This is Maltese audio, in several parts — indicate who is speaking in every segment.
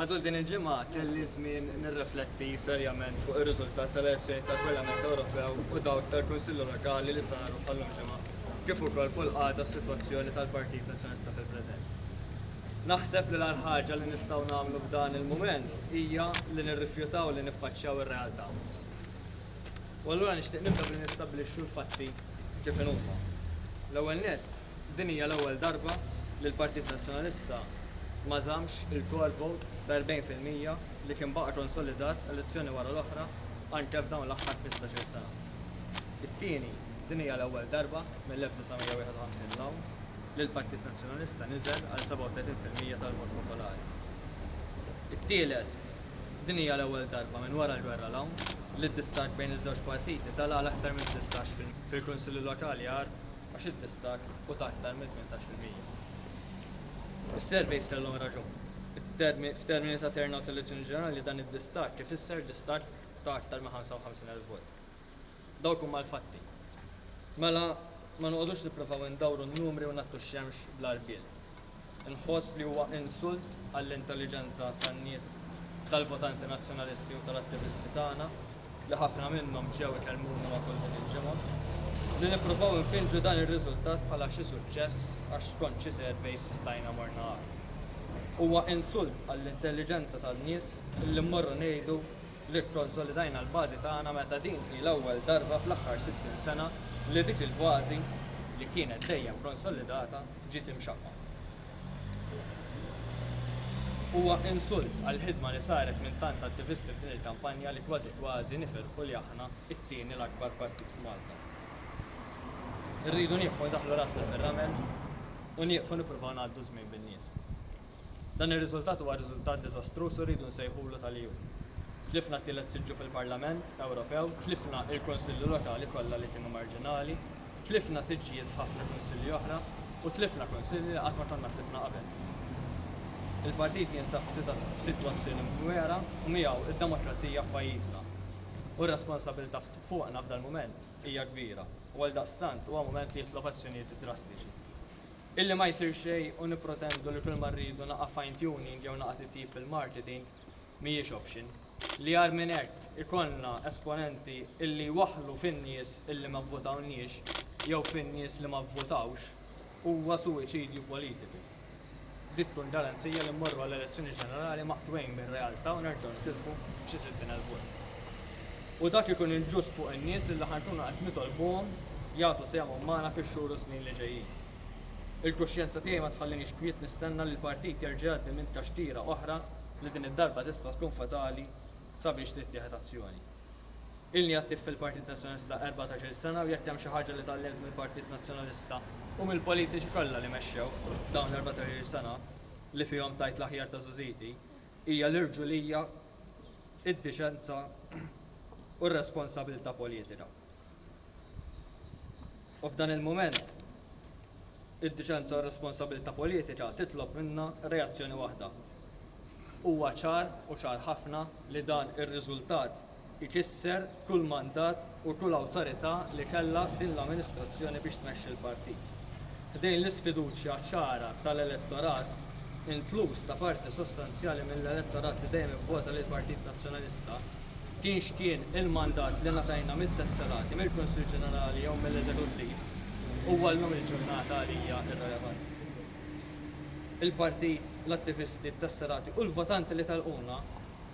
Speaker 1: Matul din il-ġimgħa kelli żmien nirrefletti serjament fuq ir-riżultat tal-elezzjonijiet tal-Parlament Ewropew u dawk tal-Kunsilli Lokali li saru bħal-lum ġimgħa, kif ukoll fuq il-qagħda u s-sitwazzjoni tal-Partit Nazzjonalista fil-preżent. Naħseb li l-agħar ħaġa li nistgħu nagħmlu f'dan il-mument hija li nirrifjutaw li niffaċċjaw ir-realtà. U allura nixtieq nibda billi nistabbilixxu l-fatti kif inhuma. L-ewwel nett, Din hija l-ewwel darba li l-Partit Nazzjonalista ma żammx il-core vote ta' 40 fil-mija li kien baqa' konsolidat elezzjoni wara l-oħra anke f'dawn l-aħħar ħmistax-il sena. It-tieni, din hija l-ewwel darba mill-1951 'l hawn li l-Partit Nazzjonalista niżel għal 37 fil-mija tal-vot popolari. It-tielet, din hija l-ewwel darba minn wara l-gwerra 'l hawn li d-distakk bejn iż-żewġ partiti tala' għal aktar minn tlittax fil-Kunsilli Lokali għar. għax id-distakk hu ta' aktar minn tmintax fil-mija. Is-surveys kellhom raġun. F'termini ta' turnout tal-elezzjoni ġenerali dan id-distakk ifisser distakk ta' aktar minn 55,000 vot. Dawk huma l-fatti. Mela ma noqogħdux nippruvaw indawru n-numri u nagħttu x-xemx bla rbiel. Inħoss li huwa insult għall-intelliġenza tan-nies, tal-votanti Nazzjonalisti u tal-attivisti tagħna, li ħafna minnhom ġew ikellmuna matul din il-ġimgħa, li nippruvaw infinġu dan ir-riżultat bħala xi suċċess għax skont xi surveys stajna morna agħar. Huwa insult għall-intelliġenza tan-nies illi mmorru ngħidu li kkonsolidajna l-bażi tagħna meta din hi l-ewwel darba fl-aħħar 60 sena li dik il-bażi, li kienet dejjem konsolidata, ġiet imxaqqqa. Huwa insult għall-ħidma li saret minn tant attivisti f'din il-kampanja li kważi kważi nifirħu li aħna t-tieni l-akbar partit f'Malta. Irridu nieqfu ndaħħlu rasna fir-ramel u nieqfu nippruvaw ngħaddu ż-żmien bin-nies. Dan ir-riżultat huwa riżultat diżastruż u rridu nsejħulu tal-EU. Tlifna t-tielet siġġu fil-Parlament Ewropew, tlifna il-Kunsilli Lokali kollha li kienu marġinali, tlifna siġġijiet f'ħafna Kunsilli oħra u tlifna Kunsilli li qatt ma konna tlifna qabel. Il-Partit jinsab f'sitwazzjoni mdwera u miegħu d-demokrazija f'pajjiżna. U r-responsabilità fuqna f'dal-mument hija kbira u għaldaqstant huwa mument li jitlob azzjonijiet drastiċi. Illi ma jsir xejn u nippretendu li kulma rridu naqa' fine tuning jew naqa' titjib fil-marketing mhijiex option. Li agħar minn hekk ikollna esponenti illi jwaħħlu fin-nies illi ma vvotawniex jew fin-nies li ma vvotawx huwa suwiċidju politiku. Dik tkun garanzija li mmorru għall-elezzjoni ġenerali maqtugħin mir-realtà u nerġgħu nitilfu xi sittin elf vot. U dak ikun inġust fuq in-nies illi ħa nkunu qed nitolbuhom jagħtu sehemhom magħna fix-xhur u s-snin li ġejjin. Il-kuxjenza tiegħi ma tħallinix kwiet nistenna li l-Partit jerġa' jgħaddi minn taxtira oħra li din id-darba tista' tkun fatali sabiex tittieħed azzjoni. Ilni attiv fil-Partit Nazzjonalista erbatax-il sena u jekk hemm xi ħaġa li tgħallimt mill-Partit Nazzjonalista u mill-politiċi kollha li mexxew f'dawn l-erbatax-il sena li fihom tajt l-aħjar ta' żużiti, Hija l-irġulija, id-diċenza u r-responsabilità politika. U f'dan il-mument, id-diċenza u r-responsabilità politika titlob minna reazzjoni waħda. Huwa ċar u ċar ħafna li dan ir-riżultat ikisser kull mandat u kull awtorità li kellha din l-amministrazzjoni biex tmexxi l-partit. Ħdejn l-isfiduċja ċara tal-elettorat, inkluż ta' parti sostanzjali mill-elettorat li dejjem ivvota lill-Partit Nazzjonalista, kien x'kien il-mandat li ngħatajna mit-tesserati, mill-Kunsill Ġenerali jew mill-Eżekuttiv, huwa llum il-ġurnata għalija irrelevanti. Il-partit, l-attivisti, t-tesserati u l-votanti li telquna,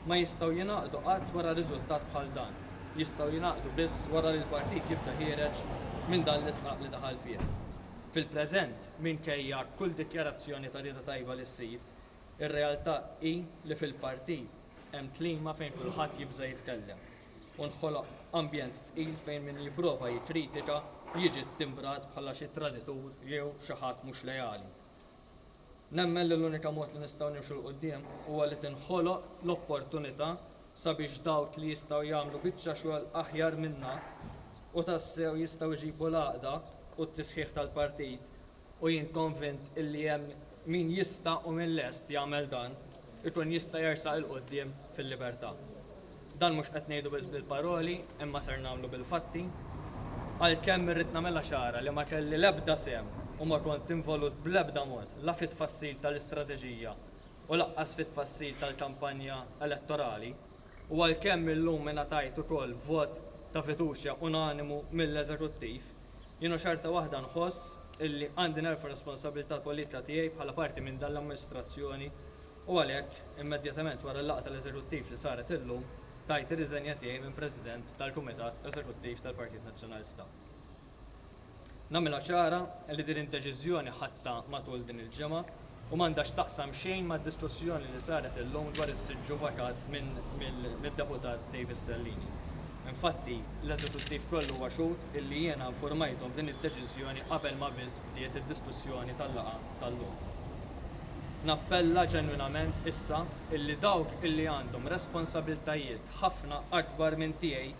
Speaker 1: ma jistgħu jingħaqdu qatt wara riżultat bħal dan. Jistgħu jingħaqdu biss wara li l-partit jibda ħiereġ minn dan l-isqaq li daħal fih. Fil-preżent, minkejja kull dikjarazzjoni ta' rieda tajba li ssir, ir-realtà hi li fil-partit hemm klima fejn kulħadd jibża' jitkellem u nħoloq ambjent tqil fejn min jipprova jikkritika jiġi ttimbrat bħala xi traditur jew xi ħadd mhux leali. Nemmen li l-unika mod li nistgħu nimxu 'l quddiem huwa li tinħoloq l-opportunità sabiex dawk li jistgħu jagħmlu biċċa xogħol aħjar minna u tassew jistgħu jġibu l-għaqda u t-tisħiħ tal-partit, u jien konvint illi hemm min jista' u min lest jagħmel dan, ikun jista' jersaq 'il quddiem fil-libertà. Dan mhux qed ngħidu biss bil-paroli imma ser nagħmlu bil-fatti. Għalkemm irrid nagħmilha ċara li ma kelli l-ebda sehem u ma kont involut bl-ebda mod la fit-tfassil tal-istrateġija u lanqas fit-tfassil tal-kampanja elettorali u għalkemm illum ingħatajt ukoll vot ta' fiduċja unanimu mill-Eżekuttiv, Jiena xorta waħda nħoss illi għandi nerfa' r-responsabbiltà politika tiegħi bħala parti minn dan l-amministrazzjoni u għalhekk, immedjatament wara l-laqgħa tal-Eżekuttiv li saret illum, tajt ir-riżenja tiegħi minn President tal-Kumitat Eżekuttiv tal-Partit Nazzjonalista. Nagħmilha ċara illi din id-deċiżjoni ħadtha matul din il-ġimgħa. u m'għandha x'taqsam xejn mad-diskussjoni li saret illum dwar is-siġġu vakat mid-Deputat Davis Sellini. Infatti, l-Eżekuttiv kollu huwa xhud illi jiena infurmajthom b'din id-deċiżjoni qabel ma biss bdiet id-diskussjoni tal-laqgħa tal-lum. Nappella ġenwinament issa illi dawk illi għandhom responsabiltajiet ħafna akbar minn tiegħi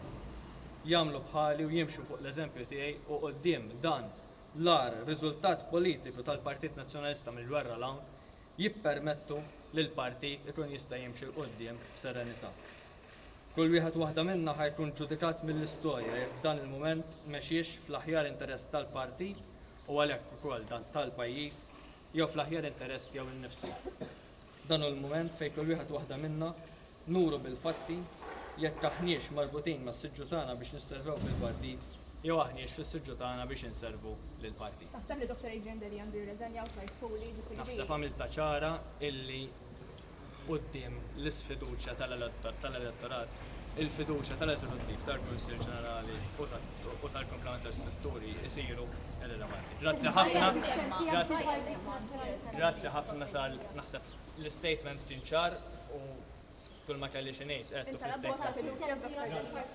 Speaker 1: jagħmlu bħali u jimxu fuq l-eżempju tiegħi u quddiem dan l-agħar riżultat politiku tal-Partit Nazzjonalista mill-gwerra 'l hawn, jippermettu li l-partit ikun jista' jimxi 'l quddiem b'serenità. Kull wieħed u waħda minna ħa jkun ġudikat mill-istorja jekk f'dan il-mument mexiex fl-aħjar interess tal-partit u għalhekk ukoll tal-pajjiż jew fl-aħjar interess tiegħu nnifsu. Dan hu l-mument fejn kull wieħed u waħda minna Nuru bil-fatti jekk aħniex marbutin mas-siġġu tagħna biex nisservew fil-partit jew aħniex fis-siġġu tagħna biex inservu lill-partit. Taħseb li Dottor Adrian Delia
Speaker 2: għandu jirreżenja u tlajt Puli, jiġifieri din. Naħseb għamiltha ċara
Speaker 1: illi quddiem l-isfiduċja tal-elettorat, il-fiduċja tal-Eżekuttiv, tal-Kunsill Ġenerali u tal-kumplament tal-istrutturi jsiru irrilevanti. Grazzi ħafna, grazzi, grazzi ħafna tal, naħseb, L-istatement kien ċar u kull ma kelli xi ngħid għedtu fl-istatement.